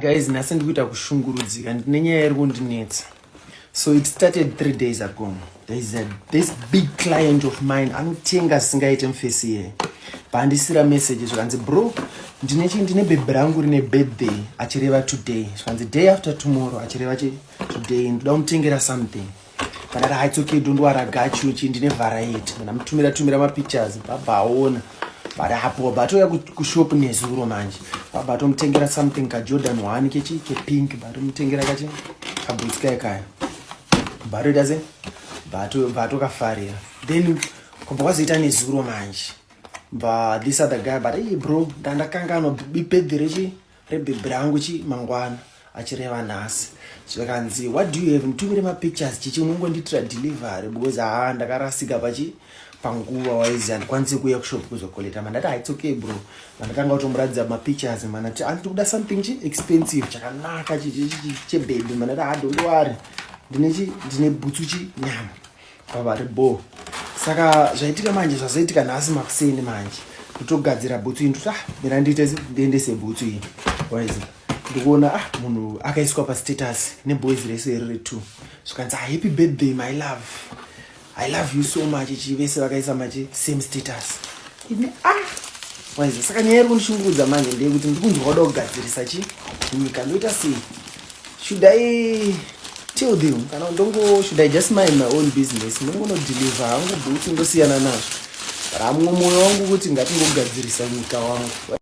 Guys, nhasi ndikuita kushungurudzika ndine nyaya iri kundinetsa. So it started three days ago. There is a, this big client of mine anotenga singaite mfesi here. Pandisira message zvikanzi bro, ndine chi ndine bebe rangu rine birthday achireva today. Zvikanzi day after tomorrow achireva chi today ndoda kumutengera something. Kana ra it's okay don't worry gachu chi ndine variety. Kana mutumira tumira ma pictures baba aona. Bari hapo bato ya ku shop nezuro manje. Baba tomutengera something ka Jordan 1 kechi ke pink bari mutengera kachi ka boots kai kai. Bari daze bato bato kafarira. Then kumba kwazoita nezuro manje. But this other guy but hey bro ndandakanganwa bipedhi rechi rebhebhi rangu chi mangwana achireva nhasi zvakanzi what do you have mutumire mapictures chichi unongondiitira delivery because haa ndakarasika pachi panguva waizi handikwanisi kuuya kushop kuzokoleta mandati haitsoke bro mandatanga kutomuratidza mapictures manati anditi kuda something chi expensive chakanaka chebhebhi mandati hadondiwari ndine chi ndine bhutsu chi nyama pavari bho saka zvaitika manje zvazoitika nhasi makuseni manje ndotogadzira bhutsu iyi ndoti ah mira ndiite ndiendese bhutsu iyi waizi ndikuona ah munhu akaiswa pastatus neboys rese iri retwo zvikanzi ah, happy birthday my love i love you so much ichi vese vakaisa machi same status ini ah waizi saka nyaya iri kundishungurudza manje ndeyekuti ndiri kunzwa kuda kugadzirisa chi nyika ndoita sei Should I tell them kana ndongo should I just mind my own business ndongono deliver hangu bhuti ndosiyana nazvo ramwe moyo wangu kuti ngatingogadzirisa nyika wangu